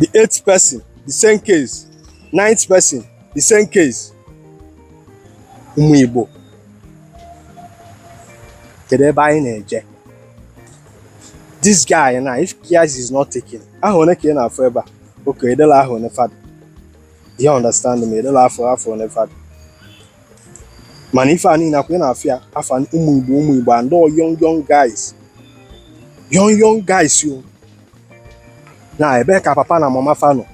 the eighth person the same case ninth person the same case ụmụ Igbo kedu ebe anyị na-eje this guy now if care is not taken ahọ one ka ị na-afụ ebe a okay edela ahọ one fa dị you understand me edela afọ one fa dị mana ife a niile ọkwa ị na-afụ ya afa ụmụ igbo ụmụ igbo and all young young guys young young guys yo na ebe ka papa na mama fa nọ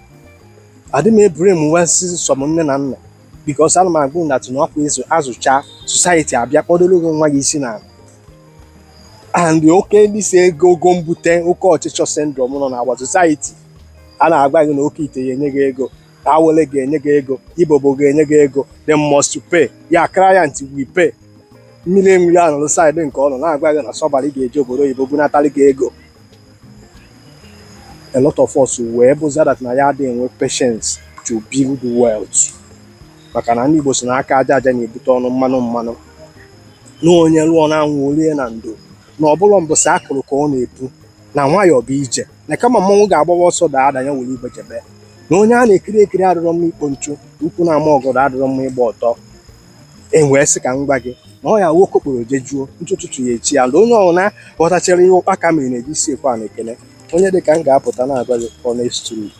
adị m eblame wa sọsọ nne na nna because ana m aghọta na ọkwa ịzụ azụcha society abịa kpọdoro gị nwa gị isi n'ana and oke ndị si ego ego mbute oke ọchịchọ syndrome nọ na our society a na-agwa gị na oke ite ya enye gị ego awele ga-enye gị ego ibobo ga-enye gị ego they must pay your client will pay mmiri enwe iro anọrọ side nke ọnụ na-agwa gị na somebody ga-esi obodo oyibo bunatalị gị ego a lot of us wee bụzi that na anyị adịghị enwe patience to build wealth maka na ndị Igbo si na aka aja aja na-ebute ọnụ mmanụ mmanụ na onye lụọ na anwụ o lie na ndo na ọ bụrọ mbọsị akụrụ ka ọ na-epu na nwayọọ bụ ije na kama mmọnwụ ga-agbawa ọsọ daa ada ya were igbe jebe na onye a na-ekiri ekiri adịrọ mma ikpo nchu ukwu na-ama ọgọdọ adịrọ mma ịgba ọtọ m wee sị ka m gwa gị na ọ ya nwoke kporo jejuo ntụtụtụ ya echi ya na onye ọbụla ghọtachara ihe ụkpaka mere na-eji isi ekwe a na-ekele onye dị ka m ga-apụta na-agwa gị honest truth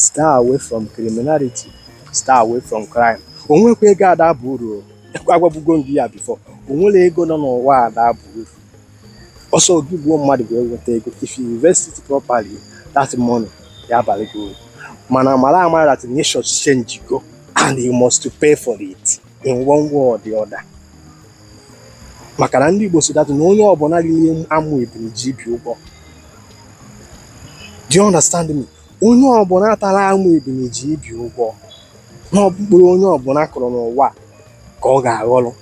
stay away from criminality stay away from crime o nwekwa ego ada aba uru agwabugo m gị ya before o nwere ego nọ n'ụwa ada aba uru ọ sọ gị gbuo mmadụ wee weta ego if you invest it properly that money ya abalị gị uru mana mara amara that nature change go and you must to pay for it in one way or the other maka na ndị Igbo si that na onye ọbụla riri amụ ebili ji ibi ụgwọ do you understand me onye ọbụla tara amụ ebili ji ibi ụgwọ na ọ bụ mkpụrụ onye ọbụla kụrụ n'ụwa ka ọ ga-aghọrọ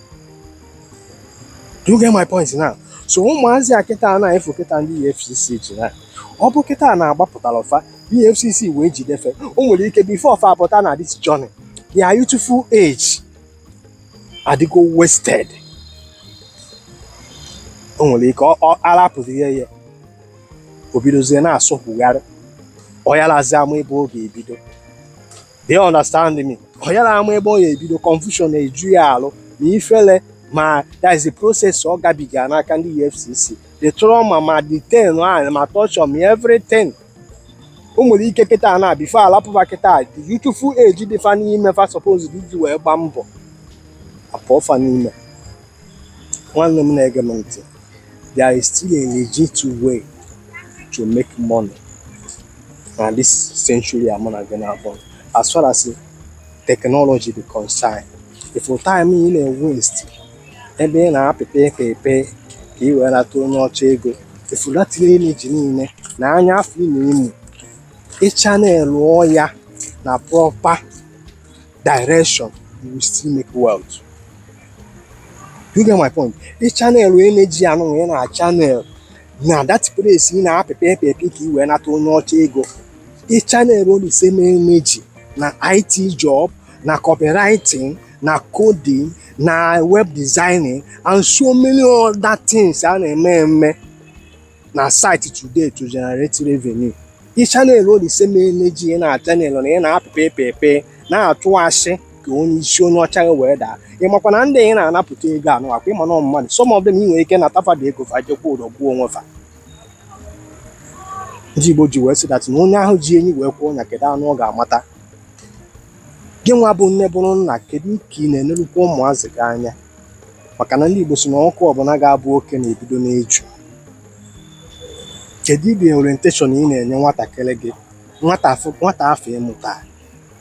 do you get my point now so ụmụazị a kịta na-efu kịta ndị EFCC ji na ọ bụ kịta na-agbapụtara ọfa EFCC wee jide fa o nwere ike before ọfa apụta na this journey their youthful age adịgo wasted o nwere ike ọ- ọ arapụzi ya ya o bidozie na-asọkwugharị ọ yarazi ama ebe ọ ga-ebido do you understand me ọ yara ama ebe ọ ga-ebido confusion na-eju ya alụ ma ifele ma that is the process ọ gabiga n'aka ndị EFCC the trauma ma detaining ma torture ma everything o nwere ike kịta na before alapụ fa kịta the youthful age dị fa n'ime fa suppose iji wee gbaa mbọ apụọ fa n'ime Nwanne m na-ege m ntị, there is still a legit way to make money na this century a mụ na gị na-akpọ as far as technology dị concerned ị fụlụ time ị na-waste ebe ị na-apịpị epe epe ka ị wee nata onye ọcha ego ị fụlụ that energy niile na anya afụ ị na-amụ ị channelụọ ya na proper direction you will still make wealth you get my point ị channelụọ energy anụnwa ị na-channel na that place ị na-apịpị epepi ka ị wee nata onye ọcha ego ị channelụọ the same energy na IT job na copywriting na coding na web designing and so many other things a na-eme eme na site today to generate revenue ị channelụọ the same energy ị na-channel na ị na-apịpa epe epe na-atụ asị ka onye isi onye ọcha gị wee daa ị makwa na ndị ị na-anapụta ego anụ akwa ịma na mmadụ some of them ị nwere ike nata fa that ego fa jee kwụọ ụdọ gbuo onwe fa ndị Igbo ji wee sị that na onye ahụ ji enyi wee kwee ọnya kedu anụ ọ ga-amata gị nwa bụ nne bụrụ nna kedu ka ị na-enelukwa ụmụazị gị anya maka na ndị Igbo si na ọkụkụ ọbụla ga-abụ oke na-ebido n'eju kedu ụdị orientation ị na-enye nwatakịrị gị nwata afụ ị mụta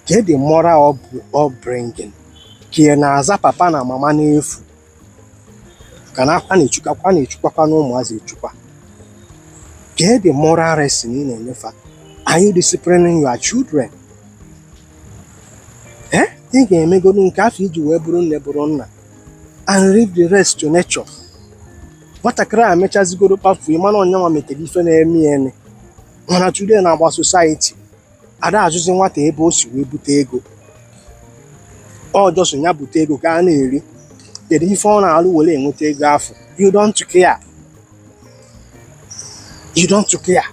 kedu ụdị moral upbringing ka ị na-aza papa na mama n'efu ka na a na-echukwakwa na-echukwakwa na ụmụazị echukwa kedu ụdị moral lesson ị na-enye fa are you disciplining your children eh? ị ga-emegodu nke afụ i ji wee bụrụ nne bụrụ nna and leave the rest to nature nwatakịrị a mechazigodu kpafuo ị mana ọ nyanwa metere ife na-eme ya eme mana today na our society ada ajụzi nwata ebe o si wee bute ego ọ just ya bute ego ka a na-eri kedu ife ọ na-alụ were enweta ego afụ you don't care you don't care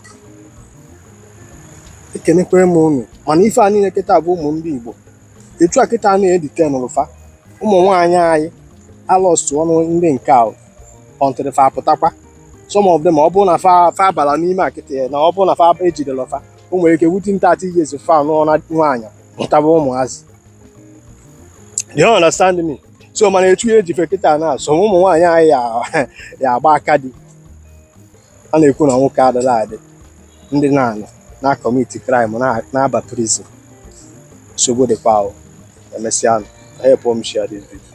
ekenekwere m unu mana ife a niile kịta bụ ụmụ ndị Igbo etu a kịta na edite n'ụfa ụmụ nwaanyị anyị alọsụ ọnụ ndị nke a until fa apụtakwa some of them ọ bụrụ na fa fa abala n'ime akịtị ya na ọ bụrụ na fa ejidela fa o nwere ike within thirty years fa anụọna nwaanyị mụtaba ụmụazị do you understand me so mana etu a e ji fa kịta na some ụmụ nwaanyị anyị ya- ya agba aka di a na-ekwu na nwoke adịla adị ndị na-anọ na commit crime na- na-aba prison nsogbu dịkwa ahụ emesịa unu helpụọ m share this video.